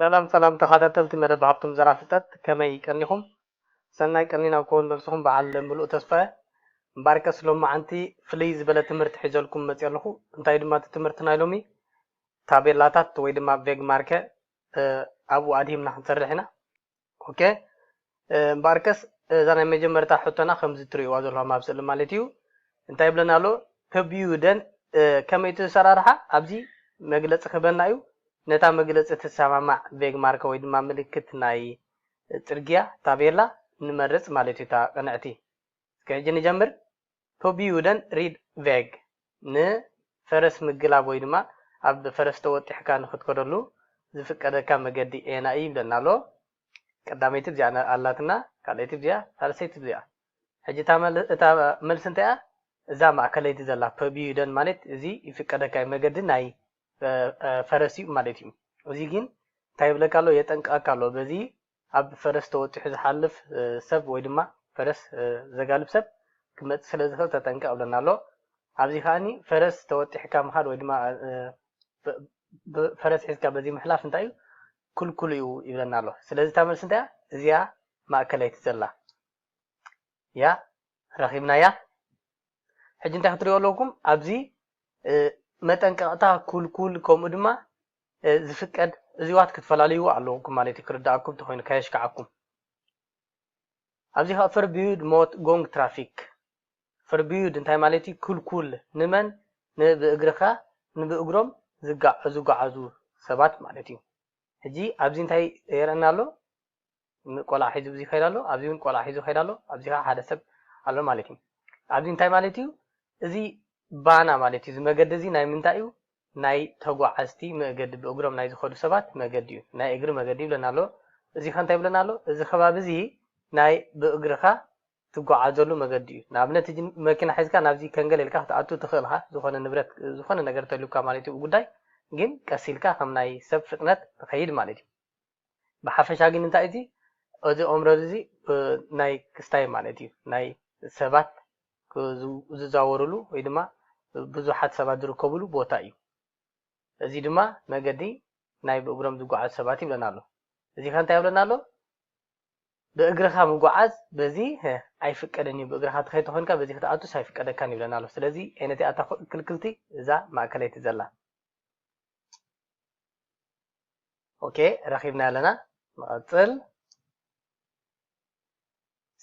ሰላም ሰላም ተኻታተልቲ መደብ ሃብቶም ዘራፊታት ከመይ ቀኒኹም ሰናይ ቀኒን ኣብ ከውን ነብስኹም በዓል ምሉእ ተስፋ እየ እምበኣርከስ ሎማዓንቲ ፍልይ ዝበለ ትምህርቲ ሒዘልኩም መጽየ ኣለኹ እንታይ ድማ እቲ ትምህርቲ ናይ ሎሚ ታቤላታት ወይ ድማ ቬግማርከ ኣብኡ ኣድሂብና ክንሰርሕ ኢና ኦኬ እምበኣርከስ እዛ ናይ መጀመርታ ሕቶና ከምዚ ትርእይዋ ዘለኹም ኣብ ስእሊ ማለት እዩ እንታይ ይብለና ኣሎ ህብዩ ደን ከመይ እቲ ዝሰራርሓ ኣብዚ መግለፂ ክህበና እዩ ነታ መግለፂ ትሰማማዕ ቬግማርከ ወይ ድማ ምልክት ናይ ፅርግያ ታቤላ ንመርፅ ማለት እዩ እታ ቅንዕቲ እስኪ ሕጂ ንጀምር ፐቢዩደን ሪድ ቨግ፣ ን ፈረስ ምግላብ ወይ ድማ ኣብ ፈረስ ተወጢሕካ ንክትከደሉ ዝፍቀደካ መገዲ ኤና እይ ይብለና ኣሎ ቀዳመይቲ ብዚኣ ኣላትና ካልኣይቲ ብዚኣ ሳልሰይቲ ብዚኣ ሕጂ እታ እታ መልሲ እንታይ እያ እዛ ማእከለይቲ ዘላ ፐቢዩደን ማለት እዚ ይፍቀደካ መገዲ ናይ ፈረስ እዩ ማለት እዩ እዚ ግን እንታይ ይብለካ ኣሎ የጠንቅቀካ ኣሎ በዚ ኣብ ፈረስ ተወጢሑ ዝሓልፍ ሰብ ወይ ድማ ፈረስ ዘጋልብ ሰብ ክመጽእ ስለ ዝኽእል ተጠንቀቕ ይብለና ኣሎ። ኣብዚ ከኣ ፈረስ ተወጢሕካ ምኻድ ወይ ድማ ፈረስ ሒዝካ በዚ ምሕላፍ እንታይ እዩ ክልኩል እዩ ይብለና ኣሎ። ስለዚ እታ መልሲ እንታይ እያ? እዚኣ ማእከለይቲ ዘላ እያ። ረኺብናያ። ሕጂ እንታይ ክትሪኡ ኣለኩም ኣብዚ መጠንቀቕታ፣ ኩልኩል ከምኡ ድማ ዝፍቀድ እዚዋት ክትፈላልይዎ ኣለውኩም ማለት እዩ ክርዳኣኩም ተኮይኑ ከየሽካዓኩም ኣብዚ ከኣ ፈርብዩድ ሞት ጎንግ ትራፊክ ፈርብዩድ እንታይ ማለት እዩ ክልኩል ንመን ን ብእግርካ ን ብእግሮም ዝጋዓዙ ሰባት ማለት እዩ ሕጂ ኣብዚ እንታይ የርእና ኣሎ ን ቆልዓ ሒዙ ብዙ ይከይድ ኣሎ ኣብዚ ውን ቆልዓ ሒዙ ይከይድ ኣሎ ኣብዚ ከኣ ሓደ ሰብ ኣሎ ማለት እዩ ኣብዚ እንታይ ማለት እዩ እዚ ባና ማለት እዩ እዚ መገዲ እዚ ናይ ምንታይ እዩ ናይ ተጓዓዝቲ መእገዲ ብእግሮም ናይ ዝከዱ ሰባት መገዲ እዩ ናይ እግሪ መገዲ ይብለና ኣሎ እዚ ከ እንታይ ይብለና ኣሎ እዚ ከባቢ እዚ ናይ ብእግርካ ትጓዓዘሉ መገዲ እዩ ንኣብነት እዚ መኪና ሒዝካ ናብዚ ከንገለ ኢልካ ክትኣቱ ትክእል ኢካ ዝኮነ ንብረት ዝኮነ ነገር ተልዩካ ማለት እዩ ጉዳይ ግን ቀስ ኢልካ ከም ናይ ሰብ ፍጥነት ትከይድ ማለት እዩ ብሓፈሻ ግን እንታይ እዩ እዚ እዚ ኦምረር እዚ ናይ ክስታይ ማለት እዩ ናይ ሰባት ዝዛወርሉ ወይ ድማ ብዙሓት ሰባት ዝርከብሉ ቦታ እዩ። እዚ ድማ መገዲ ናይ ብእግሮም ዝጓዓዙ ሰባት ይብለና ኣሎ። እዚ ከ እንታይ የብለና ኣሎ ብእግርኻ ምጉዓዝ በዚ ኣይፍቀድን እዩ ብእግርኻ ትኸይድ ተኾይንካ በዚ ክትኣቱስ ኣይፍቀደካን ይብለና ኣሎ። ስለዚ ዓይነቲኣታ ክልክልቲ እዛ ማእከለይቲ ዘላ ኦኬ ረኪብና ኣለና ንቐጽል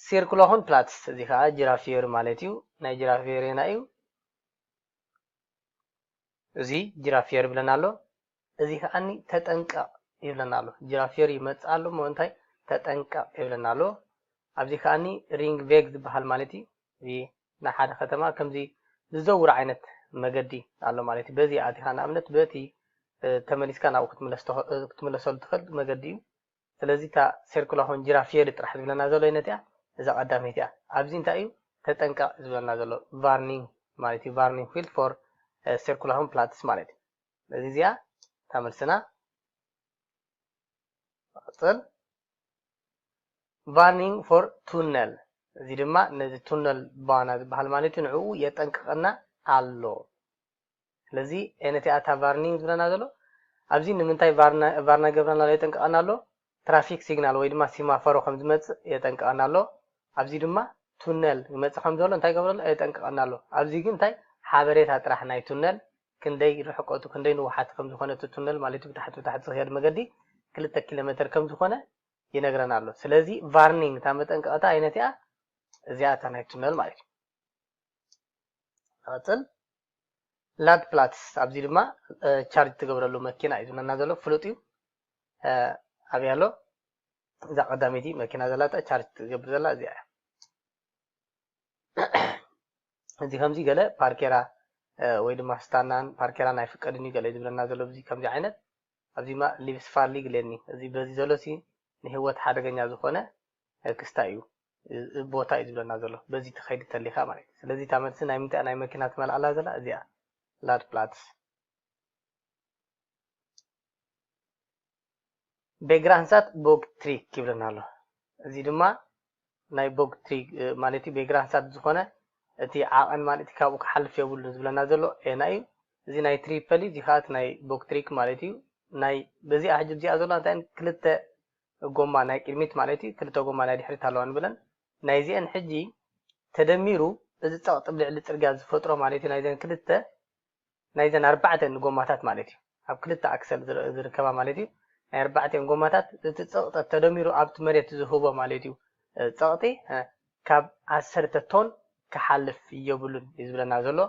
ሲርኩሎኹን ፕላትስ እዚ ከዓ ጅራፍ ፊዮሪ ማለት እዩ ናይ ጅራፍ ፊዮሪና እዩ እዚ ጅራፍ ፊዮሪ ይብለና ኣሎ እዚ ከዓኒ ተጠንቀቕ ይብለና ኣሎ ጅራፍ ፊዮሪ ይመፅእ ኣሎ እሞ እንታይ ተጠንቀቕ ይብለና ኣሎ ኣብዚ ከዓኒ ሪንግ ቬግ ዝበሃል ማለት እዩ እዚ ናይ ሓደ ከተማ ከምዚ ዝዘውር ዓይነት መገዲ ኣሎ ማለት እዩ። በዚ ኣቲኻ ንኣብነት በቲ ተመሊስካ ናብኡ ክትምለሰሉ ትኽእል መገዲ እዩ። ስለዚ እታ ሴርኩላ ሆን ጂራፍ ሼሪ ጥራሕ ዝብለና ዘሎ ኣይነት እያ። እዛ ቀዳመይቲ እያ። ኣብዚ እንታይ እዩ ተጠንቀቕ ዝብለና ዘሎ ቫርኒንግ ማለት እዩ። ቫርኒንግ ፊልድ ፎር ሴርኩላ ሆን ፕላትስ ማለት እዩ። ስለዚ እዚኣ እታ መልስና መቐፀል ቫርኒንግ ፎር ቱነል እዚ ድማ ነዚ ቱነል ባና ዝበሃል ማለት እዩ ንዕኡ የጠንቅቐና ኣሎ ስለዚ ኤነቲ ኣታ ቫርኒንግ ዝብለና ዘሎ ኣብዚ ንምንታይ ቫርና ገብረና ኣሎ የጠንቅቐና ኣሎ ትራፊክ ሲግናል ወይ ድማ ሲማፈሮ ከም ዝመፅእ የጠንቅቐና ኣሎ ኣብዚ ድማ ቱነል ይመፅእ ከም ዘሎ እንታይ ገብረሎ የጠንቅቐና ኣሎ ኣብዚ ግን እንታይ ሓበሬታ ጥራሕ ናይ ቱነል ክንደይ ርሕቀቱ ክንደይ ንውሓት ከም ዝኾነ እቲ ቱነል ማለት እዩ ብታሕቲ ብታሕቲ ዝኸድ መገዲ ክልተ ኪሎ መተር ከም ዝኾነ ይነግረና ኣሎ ስለዚ ቫርኒንግ እታ መጠንቀቕታ ኣይነት እያ እዚኣ እታ ናይ ቱነል ማለት እዩ ንቐፅል ላድ ፕላትስ ኣብዚ ድማ ቻርጅ ትገብረሉ መኪና እዩ ዝብለና ዘሎ ፍሉጥ እዩ ኣብያ ኣሎ እዛ ቀዳመይቲ መኪና ዘላታ ቻርጅ ትገብር ዘላ እዚኣ እያ እዚ ከምዚ ገለ ፓርኬራ ወይ ድማ ስታናን ፓርኬራን ኣይፍቀድን እዩ ገለ ዝብለና ዘሎ ብዚ ከምዚ ዓይነት ኣብዚ ማ ሊቭስ ፋርሊግ ለኒ እዚ በዚ ዘሎ ሲ ንህወት ሓደገኛ ዝኾነ ክስታ እዩ ቦታ እዩ ዝብለና ዘሎ በዚ ትኸይድ ተሊኻ ማለት እዩ ስለዚ እታ መልሲ ናይ ምንታይ ናይ መኪና ትመልኣላ ዘላ እዚኣ ላድ ፕላትስ ቤግራንሳት ቦግ ትሪክ ይብለና ኣሎ እዚ ድማ ናይ ቦግ ትሪክ ማለት እዩ ቤግራንሳት ዝኾነ እቲ ዓቐን ማለት ካብኡ ክሓልፍ የብሉ ዝብለና ዘሎ ኤና እዩ እዚ ናይ ትሪፐል እዚ ከዓ እቲ ናይ ቦግ ትሪክ ማለት እዩ ናይ በዚኣ ሕጂ እዚኣ ዘሎ እንታይ ክልተ ጎማ ናይ ቅድሚት ማለት እዩ ክልተ ጎማ ናይ ድሕሪት ኣለዋ ንብለን ናይዚአን ሕጂ ተደሚሩ እዚ ፀቕጢ ልዕሊ ፅርግያ ዝፈጥሮ ማለት እዩ ናይዘን ክልተ ናይዘን ኣርባዕተን ጎማታት ማለት እዩ። ኣብ ክልተ ኣክሰል ዝርከባ ማለት እዩ። ናይ ኣርባዕቲኤን ጎማታት እቲ ጸቕጠት ተደሚሩ ኣብቲ መሬት ዝህቦ ማለት እዩ ጸቕጢ ካብ ዓሰርተ ቶን ክሓልፍ የብሉን እዩ ዝብለና ዘሎ።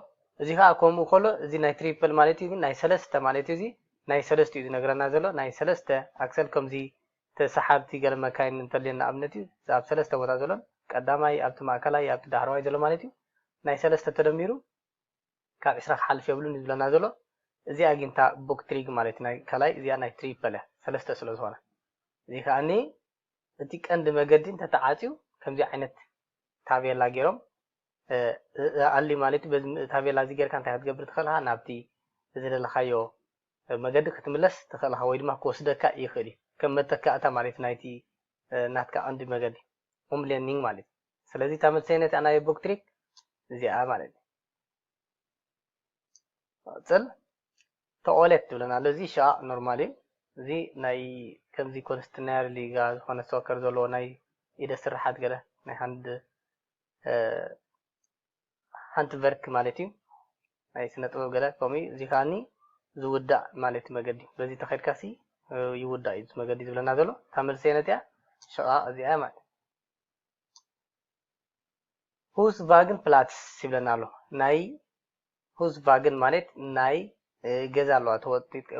እዚ ከኣ ከምኡ ከሎ እዚ ናይ ትሪፕል ማለት እዩ ግን ናይ ሰለስተ ማለት እዩ እዚ ናይ ሰለስተ እዩ ዝነግረና ዘሎ ናይ ሰለስተ ኣክሰል ከምዚ ተሰሓብቲ ገለ መካይን እንተልየን ንኣብነት እዩ እዚ ኣብ ሰለስተ ቦታ ዘሎን ቀዳማይ ኣብቲ ማእከላይ ኣብቲ ዳሕረዋይ ዘሎ ማለት እዩ ናይ ሰለስተ ተደሚሩ ካብ ዕስራ ክሓልፍ የብሉን እዩ ዝብለና ዘሎ እዚኣ ግን እታ ቡክ ትሪግ ማለት ናይ ካልኣይ እዚኣ ናይ ትሪፐል እያ ሰለስተ ስለ ዝኾነ እዚ ከዓኒ እቲ ቀንዲ መገዲ እንተተዓፅዩ ከምዚ ዓይነት ታቤላ ገይሮም ኣሊ ማለት በዚ ታቤላ እዚ ጌርካ እንታይ ክትገብር ትኽእል ኢኻ ናብቲ ዝደለኻዮ መገዲ ክትምለስ ትኽእል ኢኻ ወይ ድማ ክወስደካ ይኽእል እዩ ከም መተካእታ ማለት ናይቲ ናትካ ቀንዲ መገዲ ሆም ሌርኒንግ ማለት እዩ ስለዚ እታ መሰይነቲ ኣናዮ ቦክትሪክ እዚኣ ማለት እዩ ጽል ተቆሌት ትብለና ኣሎ እዚ ሻ ኖርማል እዩ እዚ ናይ ከምዚ ኮንስትናየር ሊጋ ዝኾነ ሶከር ዘለዎ ናይ ኢደ ስራሓት ገለ ናይ ሃንድ ሓንቲ ቨርክ ማለት እዩ ናይ ስነ ጥበብ ገለ ከምኡ እዚ ከዓኒ ዝውዳእ ማለት መገዲ በዚ ተኸድካ ሲ ይውዳእ እዩ መገዲ ዝብለና ዘሎ እታ መልሰ ነትያ ሽቓ እዚኣ ማለት ሁስቫግን ፕላትስ ይብለና ኣሎ ናይ ሁስቫግን ማለት ናይ ገዛ ኣለዋ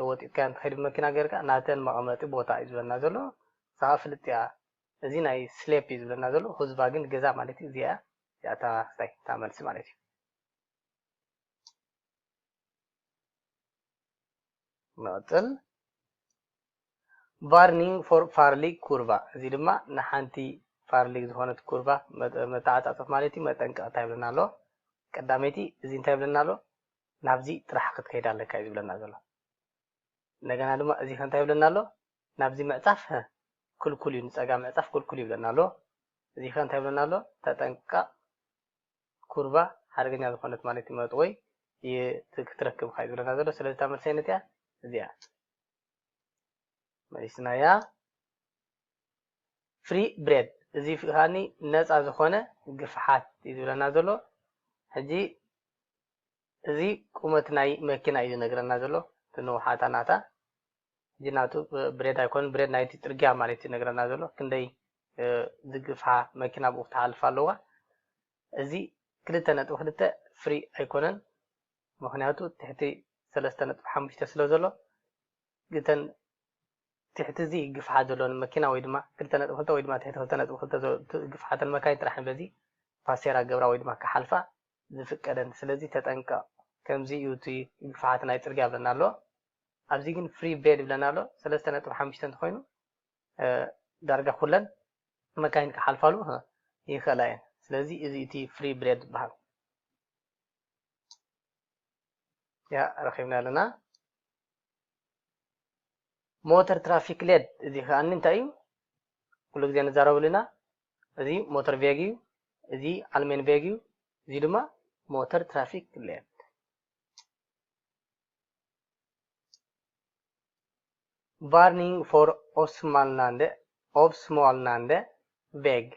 ወጢጥካ እንትኸይድ ብመኪና ገርካ ናተን መቐመጢ ቦታ እዩ ዝብለና ዘሎ ንስኻ ፍልጥ እያ እዚ ናይ ስሌፕ እዩ ዝብለና ዘሎ ሁዝባ ግን ገዛ ማለት እዩ እዚኣ እዚኣታ ስታይ እታ መልሲ ማለት እዩ ንቕጽል። ቫርኒንግ ፎር ፋርሊግ ኩርቫ እዚ ድማ ንሓንቲ ፋርሊግ ዝኾነት ኩርቫ መተዓጻጸፍ ማለት እዩ መጠንቀቕታ ይብለና ኣሎ። ቀዳመይቲ እዚ እንታይ ይብለና ኣሎ ናብዚ ጥራሕ ክትከይድ ኣለካ እዩ ዝብለና ዘሎ። እንደገና ድማ እዚ ከንታይ ይብለና ኣሎ ናብዚ ምዕጻፍ ክልኩል እዩ ንጸጋ ምዕጻፍ ክልኩል ይብለና ኣሎ። እዚ ከንታይ ይብለና ኣሎ ተጠንቀቕ ኩርቫ ሓደገኛ ዝኾነት ማለት እዩ መጥወይ እቲ ክትረክብካ እዩ ዝብለና ዘሎ ስለዚ እታ መልሰይ ነቲኣ እዚኣ መሊስናያ ፍሪ ብሬድ እዚ ከዓኒ ነፃ ዝኾነ ግፍሓት እዩ ዝብለና ዘሎ ሕጂ እዚ ቁመት ናይ መኪና እዩ ዝነግረና ዘሎ እቲ ንውሓታ ናታ ሕጂ ናቱ ብሬድ ኣይኮነን ብሬድ ናይቲ ጽርግያ ማለት እዩ ዝነግረና ዘሎ ክንደይ ዝግፍሓ መኪና ኣብኡ ክትሓልፍ ኣለዋ እዚ ክልተ ነጥቢ ክልተ ፍሪ ኣይኮነን ምክንያቱ ትሕቲ ሰለስተ ነጥቢ ሓሙሽተ ስለ ዘሎ ግተን ትሕቲ እዚ ግፍሓት ዘለወን መኪና ወይ ድማ ክልተ ነጥቢ ክልተ ወይ ድማ ትሕቲ ክልተ ነጥቢ ክልተ ግፍሓተን መካይን ጥራሕ በዚ ፓሴራ ገብራ ወይ ድማ ክሓልፋ ዝፍቀደን ስለዚ ተጠንቀቕ ከምዚ እዩ እቲ ግፍሓት ናይ ጽርግያ ብለና ኣሎ ኣብዚ ግን ፍሪ ቤድ ይብለና ኣሎ ሰለስተ ነጥቢ ሓሙሽተ እንተኮይኑ ዳርጋ ኩለን መካይን ክሓልፋሉ ይክእላ እየን ስለዚ እዚ እቲ ፍሪ ብሬድ ዝበሃል ያ ረኪብና ኣለና ሞተር ትራፊክ ሌድ እዚ ከዓኒ እንታይ እዩ ኩሉ ግዜ ንዛረብሉ ኢና እዚ ሞተር ቬግ እዩ እዚ ኣልሜን ቬግ እዩ እዚ ድማ ሞተር ትራፊክ ሌድ ቫርኒንግ ፎር ኦስማልናንደ፣ Obsmalnande፣ ቬግ፣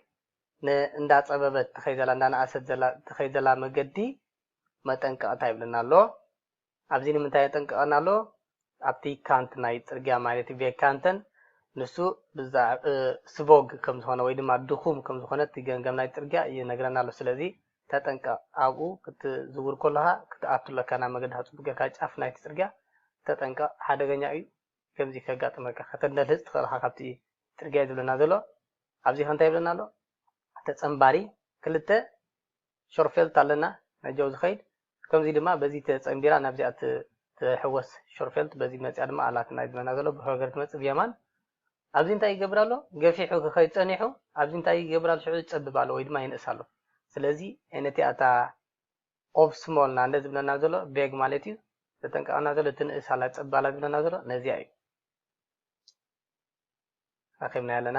ን እንዳጸበበት ትኸይድ ዘላ እንዳነኣሰት ዘላ ትኸይድ ዘላ መገዲ መጠንቀቕታ ይብለና ኣሎ። ኣብዚ ንምንታይ የጠንቅቐና ኣሎ? ኣብቲ ካንት ናይ ጽርግያ ማለት'ዩ ቬግካንተን ንሱ ብዛዕ ስቮግ ከም ዝኾነ ወይ ድማ ድኹም ከም ዝኾነ እቲ ገምገም ናይ ጽርግያ ይነግረና ኣሎ። ስለዚ ተጠንቀቅ ኣብኡ ክትዝውር ኮሎኻ ክትኣቱ ኣለካ ናብ መገዲ ሕጹብ ገርካ ጫፍ ናይቲ ጽርግያ ተጠንቀቅ ሓደገኛ እዩ ከምዚ ከጋጥመካ ከተንደልህጽ ትኽእል እኻ ካብቲ ጽርግያ እዩ ዝብለና ዘሎ ኣብዚኸ እንታይ ይብለና ኣሎ ተጸንባሪ ክልተ ሾርፌልት ኣለና ነጀው ዝኸይድ ከምዚ ድማ በዚ ተጸንቢራ ናብዚኣ እትሕወስ ሾርፌልት በዚ መጺኣ ድማ ኣላት ናይ ዝመና ዘሎ ብሆገር ትመጽእ ብየማን ኣብዚ እንታይ ይገብር ኣሎ ገፊሑ ክኸይድ ጸኒሑ ኣብዚ እንታይ ይገብር ኣሎ ሽዑ ይጸብብ ኣሎ ወይ ድማ ይንእስ ኣሎ ስለዚ ነቲ ኣታ ኦፍ ስሞል ና እንደ ዝብለና ዘሎ ቤግ ማለት እዩ ተጠንቀቐና ዘሎ እቲ ንእስ ኣላ ጸብ ኣላ ዝብለና ዘሎ ነዚኣ እዩ ረኺብና ኣለና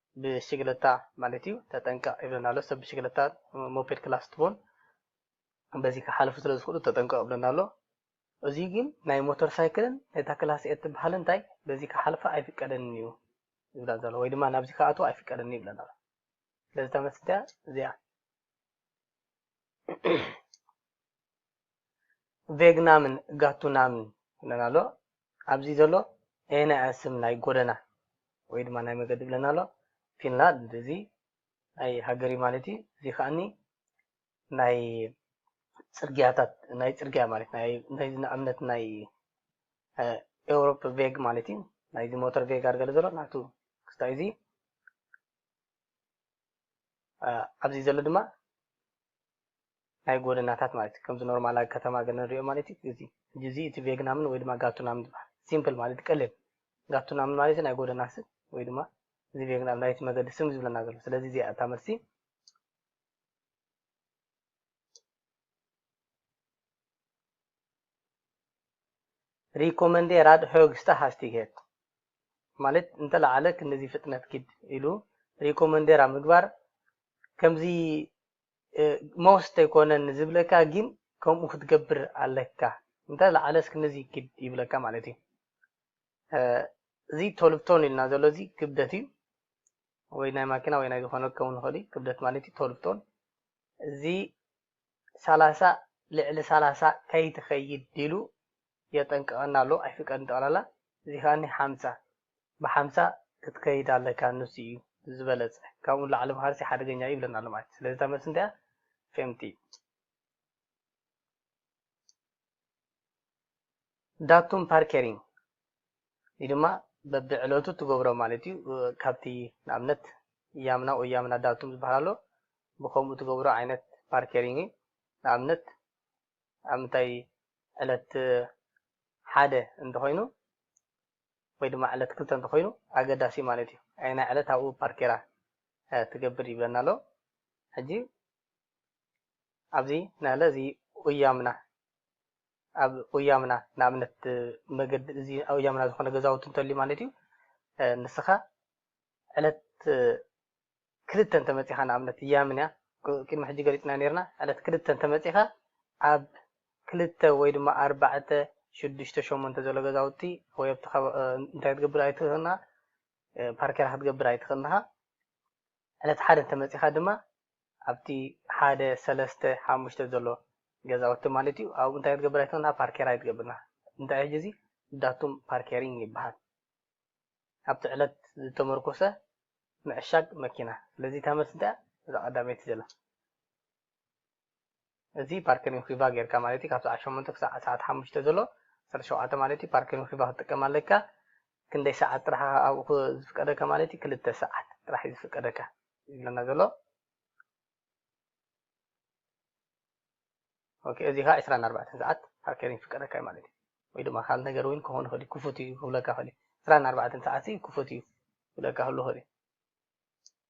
ብሽግለታ ማለት እዩ ተጠንቀቅ ይብለና ኣሎ ሰብ ብሽግለታ ሞፔድ ክላስ ትቦን በዚ ክሓልፉ ስለ ዝኽእሉ ተጠንቀቅ ይብለና ኣሎ እዚ ግን ናይ ሞተር ሳይክልን ነታ ክላስ ኤት ትበሃል እንታይ በዚ ክሓልፋ ኣይፍቀደንን እዩ ይብላ ዘሎ ወይ ድማ ናብዚ ክኣትው ኣይፍቀደንን ይብለና ኣሎ ስለዚ ተመስዳ እዚኣ ቬግናምን ጋቱናምን ይብለና ኣሎ ኣብዚ ዘሎ ኤነ ስም ናይ ጎደና ወይ ድማ ናይ መገዲ ይብለና ኣሎ ፊንላንድ እዚ ናይ ሃገሪ ማለት እዩ እዚ ከዓኒ ናይ ፅርግያታት ናይ ፅርግያ ማለት ናይ ንኣብነት ናይ ኤውሮፕ ቬግ ማለት እዩ ናይዚ ሞተር ቬግ ኣርገለ ዘሎ ናቱ ክስታይ እዚ ኣብዚ ዘሎ ድማ ናይ ጎደናታት ማለት እዩ ከምዚ ኖርማል ኣብ ከተማ ገለ ንሪኦ ማለት እዩ እዚ ሕጂ እዚ እቲ ቬግናምን ወይ ድማ ጋቱናምን ዝበሃል ሲምፕል ማለት ቀሊል ጋቱናምን ማለት ናይ ጎደና ስም ወይ ድማ እዚ ቬግናም ናይቲ መገዲ ስም ዝብለና ዘሎ ስለዚ እዚኣ እታ መልሲ ሪኮመንዴራድ ሆግስታ ሃስቲግሄት ማለት እንተለዓለ ክንድዚ ፍጥነት ኪድ ኢሉ ሪኮመንዴራ ምግባር ከምዚ ሞስት ኣይኮነን ዝብለካ ግን ከምኡ ክትገብር ኣለካ እንተለዓለስ ክንድዚ ኪድ ይብለካ ማለት እዩ እዚ ቶልብቶን ኢልና ዘሎ እዚ ክብደት እዩ ወይ ናይ ማኪና ወይ ናይ ዝኾነ ክኸውን ይኽእል እዩ ክብደት ማለት እዩ ቶልብቶን እዚ ሰላሳ ልዕሊ ሰላሳ ከይትከይድ ኢሉ የጠንቅቀና ኣሎ ኣይፍቀድን ጠቅላላ እዚ ከኣኒ ሓምሳ ብሓምሳ ክትከይድ ኣለካ ንሱ እዩ ዝበለጸ ካብኡ ንላዕሊ ምካድሲ ሓደገኛ እዩ ይብለና ኣሎ ማለት እዩ ስለዚ እታ መልሲ እንታይ እያ femti ዳቱም ፓርከሪንግ እዩ ድማ በቢ ዕለቱ ትገብሮ ማለት እዩ ካብቲ ንኣብነት እያምና ወያምና ዳቱም ዝበሃል ኣሎ ብከምኡ ትገብሮ ዓይነት ፓርከሪንግ እዩ ንኣብነት ኣብ ምንታይ ዕለት ሓደ እንተኾይኑ ወይ ድማ ዕለት ክልተ እንተኾይኑ ኣገዳሲ ማለት እዩ ኣይና ዕለት ኣብኡ ፓርኬራ ትገብር ይብለና ኣሎ ሕጂ ኣብዚ ናህለ እዚ ኡያምና ኣብ ኡያምና ንኣብነት መገዲ እዚ ኡያምና ዝኾነ ገዛውቲ እንተልዩ ማለት እዩ ንስኻ ዕለት ክልተ እንተመፂኻ ንኣብነት እያምንያ ቅድሚ ሕጂ ገሊፅና ነርና ዕለት ክልተ እንተመፂኻ ኣብ ክልተ ወይ ድማ ኣርባዕተ ሽዱሽተ ሸሞንተ ዘሎ ገዛውቲ ወይ ኣብቲ እንታይ ትገብር ኣይትኽእልና ፓርኬራ ክትገብር ኣይትኽእልናኻ ዕለት ሓደ እንተመፂኻ ድማ ኣብቲ ሓደ ሰለስተ ሓሙሽተ ዘሎ ገዛውቲ ማለት እዩ ኣብኡ እንታይ ክትገብር ኣይትኽእልና ፓርኬር ኣይትገብርና እንታይ ሕጂ እዚ ዳቱም ፓርኬሪንግ ይበሃል ኣብቲ ዕለት ዝተመርኮሰ ምዕሻግ መኪና ስለዚ እታ መልሲ እንታይ እያ እዛ ቀዳመይቲ ዘላ እዚ ፓርክ ኒኩባ ጌርካ ማለት እዩ ካብ ሰዓት ሸሞንተ ክሳዕ ሰዓት ሓሙሽተ ዘሎ ዓሰርተ ሸውዓተ ማለት እዩ ፓርክ ኒኩባ ክትጥቀም ኣለካ ክንደይ ሰዓት ጥራሕ ኣብኡ ዝፍቀደካ ማለት እዩ ክልተ ሰዓት ጥራሕ እዩ ዝፍቀደካ ይብለና ዘሎ ኦኬ እዚ ከዓ ዕስራን ኣርባዕተን ሰዓት ሃከር ይፍቀደካ እዩ ማለት እዩ ወይ ድማ ካልእ ነገር እውን ክኸውን ይኽእል እዩ ክፉት እዩ ክብለካ ይኽእል እዩ ዕስራን ኣርባዕተን ሰዓት ክፉት እዩ ክብለካ ክህሉ ይኽእል እዩ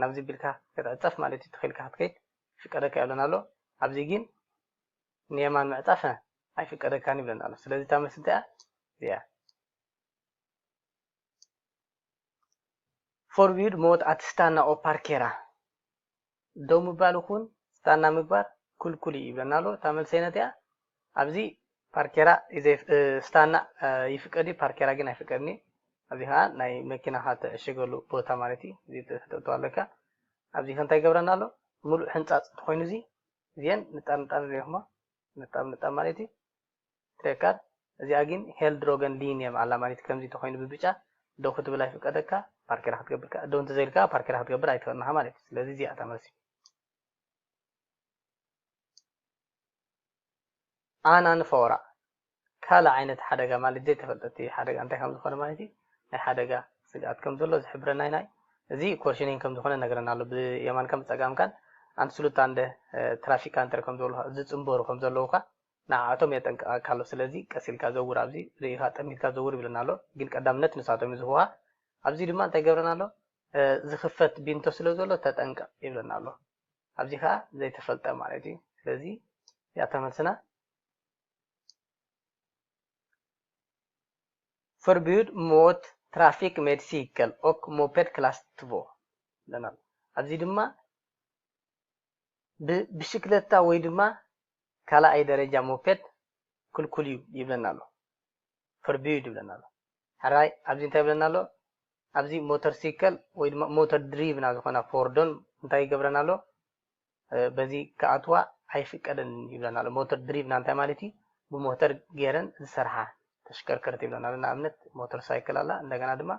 ናብዚ ቢልካ ክትዕጸፍ ማለት እዩ ተኺኢልካ ክትከይድ ይፍቀደካ ይብለና ኣሎ ኣብዚ ጊን ንየማን ምዕጻፍ ኣይፍቀደካን ይብለና ኣሎ ስለዚ እታ መልሲ እንታይ እያ እዚኣ ፎርቪድ ሞት ኣት ስታና ኦ ፓርኬራ ደው ምባል ይኹን ስታና ምግባር ክልኩል እዩ ይብለና ኣሎ እታ መልሰይነት እያ ኣብዚ ፓርኬራ ስታና ይፍቀድ እዩ ፓርኬራ ግን ኣይፍቀድን እዩ ኣብዚ ከኣ ናይ መኪናካ ትዕሽገሉ ቦታ ማለት እዩ እዚ ተተእትዋ ኣለካ ኣብዚ ከ እንታይ ይገብረና ኣሎ ምሉእ ሕንጻጽ እንተኮይኑ እዚ እዚኤን ንጣር ንጣር ንሪኢኩማ ንጣብ ንጣብ ማለት እዩ ትሬካር እዚኣ ግን ሄል ድሮገን ሊን እዮም ኣላ ማለት ከምዚ ተኮይኑ ብብጫ ደው ክትብል ኣይፍቀደካ ፓርኬራ ክትገብርካ ደው እንተዘይልካ ፓርኬራ ክትገብር ኣይትክእልንካ ማለት እዩ ስለዚ እዚኣ እታ መልሲ ኣና ንፈወራ ካልእ ዓይነት ሓደጋ ማለት ዘይተፈልጠ እቲ ሓደጋ እንታይ ከም ዝኾነ ማለት እዩ ናይ ሓደጋ ስግኣት ከም ዘሎ ዝሕብረና ናይ እዚ ኮርሽኒን ከም ዝኾነ ነገረና ኣሎ ብየማንካን ብጸጋምካን ኣንስሉታንደ ትራፊካንተር ከም ዝበሉ ዝጽንበሩ ከም ዘለዉ ከ ንዓኣቶም የጠንቅቐካ ኣሎ ስለዚ ቀስ ኢልካ ዘውር ኣብዚ ርእኻ ጠሚትካ ዘውር ይብለና ኣሎ ግን ቀዳምነት ንሳቶም እዩ ዝህቡኻ ኣብዚ ድማ እንታይ ገብረና ኣሎ ዝኽፈት ቢንቶ ስለ ዘሎ ተጠንቀቕ ይብለና ኣሎ ኣብዚ ከኣ ዘይተፈልጠ ማለት እዩ ስለዚ እዚኣታ መልስና ፈርቢዩድ ሞት ትራፊክ ሜድ ሲከል ኦክ ሞፐድ ክላስ ትቮ ኣለና ኣብዚ ድማ ብብሽክለታ ወይ ድማ ካልኣይ ደረጃ ሞፔድ ክልኩል እዩ ይብለና ኣሎ ፈርድዩ ድብለና ኣሎ። ሐራይ ኣብዚ እንታይ ይብለና ኣሎ ኣብዚ ሞተር ሲከል ወይ ድማ ሞተር ድሪቭና ዝኾና ፎርዶን እንታይ ይገብረና ኣሎ በዚ ክኣትዋ ኣይፍቀደንን ይብለና ኣሎ። ሞተር ድሪቭና እንታይ ማለት እዩ ብሞተር ጌረን ዝሰርሓ ተሽከርከርቲ ይብለና ኣሎ። ንኣብነት ሞተር ሳይክል ኣላ እንደገና ድማ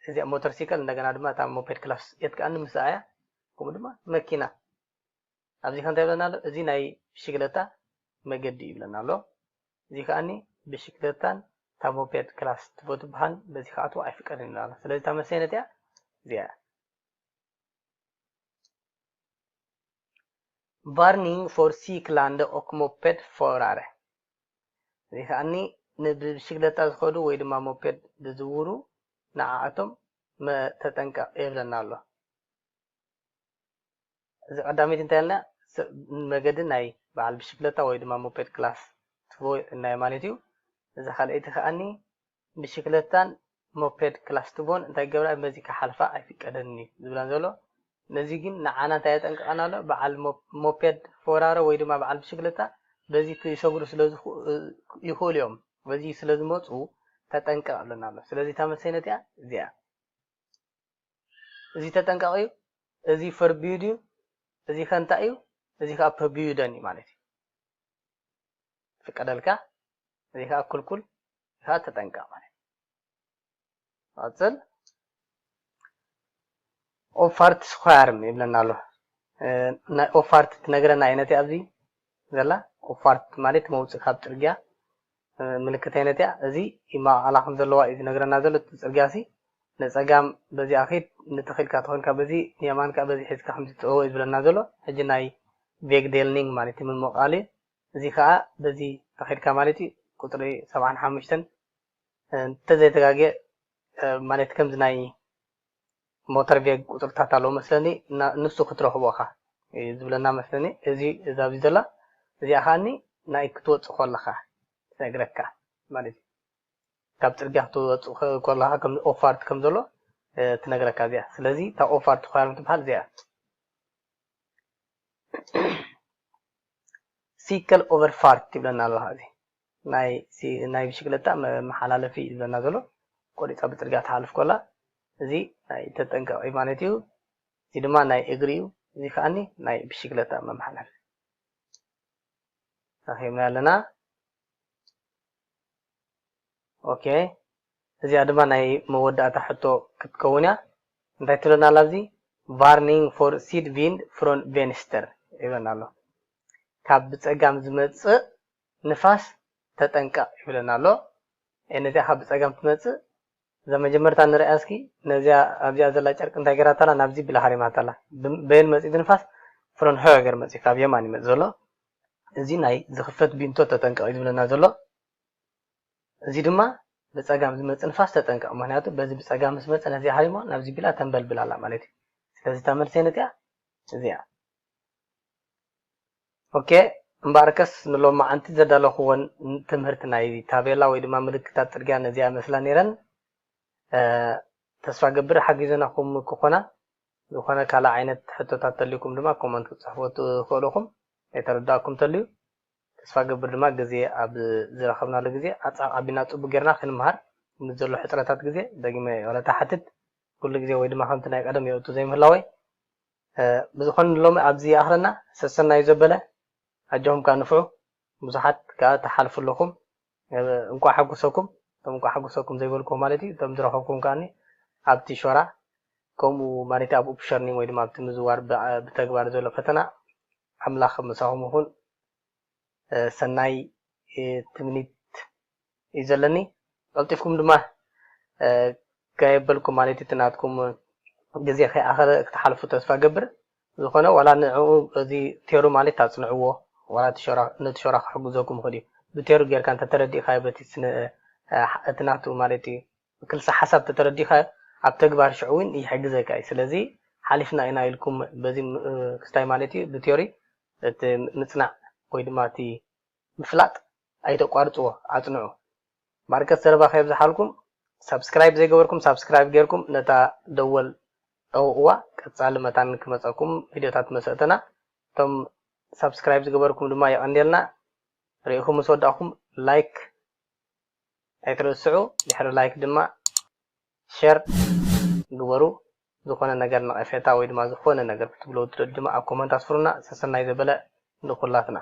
እዚኣ ሞተር ሲከል እንደገና ድማ እታ ሞፔድ ክላስ የት ከኣ ንምስኣ እያ ከምኡ ድማ መኪና ኣብዚ ከ እንታይ ይብለና ኣሎ እዚ ናይ ብሽግለታ መገዲ እዩ ይብለና ኣሎ እዚ ከኣኒ ብሽግለታን እታ ሞፔድ ክላስ ትቦ ትበሃል በዚ ክኣትዎ ኣይፍቀድን ይብለና ኣሎ ስለዚ እታ መልሲ ኣይነት እያ እዚኣ እያ ቫርኒንግ ፎር ሲክላንደ ኦክ ሞፔድ ፎራረ እዚ ከኣኒ ንብሽግለታ ዝኸዱ ወይ ድማ ሞፔድ ዝዝውሩ ንዓኣቶም ተጠንቀቕ የብለና ኣሎ እዚ ቀዳመይቲ እንታይ ኣልና መገዲ ናይ በዓል ብሽክለታ ወይ ድማ ሞፔድ ክላስ ትቮ እልናዮ ማለት እዩ። እዛ ካልኣይቲ ከኣኒ ብሽክለታን ሞፔድ ክላስ ትቮን እንታይ ክገብራ በዚ ክሓልፋ ኣይፍቀደንን እዩ ዝብለን ዘሎ። ነዚ ግን ንዓና እንታይ የጠንቅቐና ኣሎ በዓል ሞፔድ ፎራረ ወይ ድማ በዓል ብሽክለታ በዚ ክሰግሩ ስለ ይኽእሉ እዮም በዚ ስለ ዝመፁ ተጠንቀቕ እብለና ኣሎ። ስለዚ እታ መልሰይ ነቲኣ እዚኣ እያ። እዚ ተጠንቀቕ እዩ፣ እዚ ፈርብዩድ እዩ፣ እዚ ከ እንታይ እዩ፣ እዚ ከኣ ፐብዩደን እዩ ማለት እዩ። ይፍቀደልካ፣ እዚ ከኣ ኩልኩል፣ እዚ ከኣ ተጠንቀቕ ማለት እዩ። ንቐጽል ኦፋርት ስኳርም ይብለና ኣሎ ናይ ኦፋርት ትነግረና እየ ነቲ ኣብዚ ዘላ ኦፋርት ማለት መውፅእ ካብ ፅርግያ ምልክት ኣይነት እያ እዚ ይማቃቀላ ከም ዘለዋ እዩ ዝነግረና ዘሎ እቲ ጽርግያ ሲ ንጸጋም በዚኣ ኪድ ንተክ ኢልካ ተኮንካ በዚ ንየማን ከኣ በዚ ሒዝካ ከምዚ ትእወ እዩ ዝብለና ዘሎ ሕጂ ናይ ቬግዴልኒንግ ማለት እዩ ምምቃል እዩ እዚ ከኣ በዚ ተኪድካ ማለት እዩ ቁጽሪ ሰብዓን ሓሙሽተን እንተዘይተጋግየ ማለት ከምዚ ናይ ሞተር ጌግ ቁጽርታት ኣለዎ መስለኒ እና ንሱ ክትረኽቦ እኻ እዩ ዝብለና መስለኒ እዚ እዛ ኣብዚ ዘላ እዚኣ ከኣኒ ናይ ክትወጽእ ኮለኻ ትነግረካ ማለት እዩ ካብ ጽርግያ ክትወጽእ ኮለኻ ከም ኦፋርት ከም ዘሎ ትነግረካ እዚኣ ስለዚ እታ ኦፋርት ኳርም ትበሃል እዚኣ ሲከል ኦቨርፋርት ይብለና ኣለኻ እዚ ናይ'ዚ ናይ ብሽክለታ መመሓላለፊ እዩ ዝብለና ዘሎ። ቆሪጻ ብጽርግያ ትሓልፍ ኮላ እዚ ናይ ተጠንቀቂ ማለት እዩ። እዚ ድማ ናይ እግሪ እዩ። እዚ ከኣኒ ናይ ብሽክለታ መመሓላለፊ ረኺብናዮ ኣለና። ኦኬ እዚኣ ድማ ናይ መወዳእታ ሕቶ ክትከውን እያ። እንታይ ትብለና ኣላ ኣብዚ ቫርኒንግ ፎር ሲድ ቪንድ ፍሮን ቬንስተር ይብለና ኣሎ። ካብ ብጸጋም ዝመጽእ ንፋስ ተጠንቀቅ ይብለና ኣሎ ኤህ ነዚኣ ካብ ብጸጋም ትመጽእ እዛ መጀመርታ ንርኣያ እስኪ ነዚኣ ኣብዚኣ ዘላ ጨርቂ እንታይ ጌራታ ኣላ ናብዚ ብላ ሃሪማታ ኣላ በየን መጽዩ እዚ ንፋስ ፍሮን ሆገር መጽዩ ካብ የማን ይመጽ ዘሎ እዚ ናይ ዝኽፈት ቢንቶ ተጠንቀቅ እዩ ዝብለና ዘሎ እዚ ድማ ብጸጋም ዝመጽእ ንፋስ ተጠንቀቅ ምክንያቱ በዚ ብጸጋም ምስ መጸ ነዚኣ ሃሪሞ ናብዚ ቢላ ተንበልብል ኣላ ማለት እዩ ስለዚ እታ መልሰይ ነዚኣ እዚኣ ኦኬ እምበኣርከስ ንሎማዓንቲ ዘዳለኹወን ትምህርት ናይ ታቤላ ወይ ድማ ምልክታት ጽርግያ ነዚኣ ይመስላ ኔረን ተስፋ ገብር ሓጊዘናኹም ክኾና ዝኾነ ካልእ ዓይነት ሕቶታት ተልዩኩም ድማ ኮመንት ክትጽሕፉ ትኽእሉ ኢኹም ዘይተረዳኣኩም ተልዩ ተስፋ ገብር ድማ ግዜ ኣብ ዝረኸብናሉ ግዜ ኣጻቕ ኣቢልና ጽቡቅ ጌርና ክንምሃር ምስ ዘሎ ሕጽረታት ግዜ ደጊመ ይቕረታ ሓትት ኩሉ ግዜ ወይ ድማ ከምቲ ናይ ቀደም የእቱ ዘይምህላወይ ብዝኮነ ሎሚ ኣብዚ ይኣክለና ሰሰናዩ ዘበለ ኣጆኩም ከኣ ንፍዑ ብዙሓት ከኣ ትሓልፉ ኣለኩም እንቋዕ ሓጎሰኩም እቶም እንቋዕ ሓጎሰኩም ዘይበልኩ ማለት እዩ እቶም ዝረከብኩም ከኣ ኣብቲ ሾራ ከምኡ ማለት ኣብ ኡፕሸርኒንግ ወይ ድማ ኣብቲ ምዝዋር ብተግባር ዘሎ ፈተና ኣምላክ ምሳኩም ይኩን ሰናይ ትምኒት እዩ ዘለኒ ቀልጢፍኩም ድማ ጋይ የበልኩም ማለት እቲ ናትኩም ግዜ ከይኣኸለ ክትሓልፉ ተስፋ ገብር ዝኾነ ዋላ ንዕኡ እዚ ቴሩ ማለት ኣጽንዕዎ ዋላ ነቲ ሾራ ክሕግዘኩም ይኽእል እዩ ብቴሩ ጌርካ እንተተረዲእካዮ በቲ ስነ እቲ ናቱ ማለት እዩ ክልሰ ሓሳብ ተተረዲእካዮ ኣብ ተግባር ሽዑ እውን ይሕግዘካ እዩ ስለዚ ሓሊፍና ኢና ኢልኩም በዚ ክስታይ ማለት እዩ ብቴሪ እቲ ምጽናዕ ወይ ድማ እቲ ምፍላጥ ኣይተቋርጽዎ ኣጽንዑ ማርከስ ዘረባ ከየብዝሓልኩም ሳብስክራይብ ዘይገበርኩም ሳብስክራይብ ጌርኩም ነታ ደወል ጠውቕዋ ቀጻሊ መታን ክመጸኩም ቪድዮታት መሰእተና እቶም ሳብስክራይብ ዝገበርኩም ድማ የቐንየልና ርኢኹም ምስ ወዳእኩም ላይክ ኣይትረስዑ ድሕሪ ላይክ ድማ ሸር ግበሩ ዝኮነ ነገር ነቀፌታ ወይ ድማ ዝኮነ ነገር ክትብልዎ እትደልዩ ድማ ኣብ ኮመንት ኣስፍሩልና ሰሰናዩ ዘበለ ንኩላትና።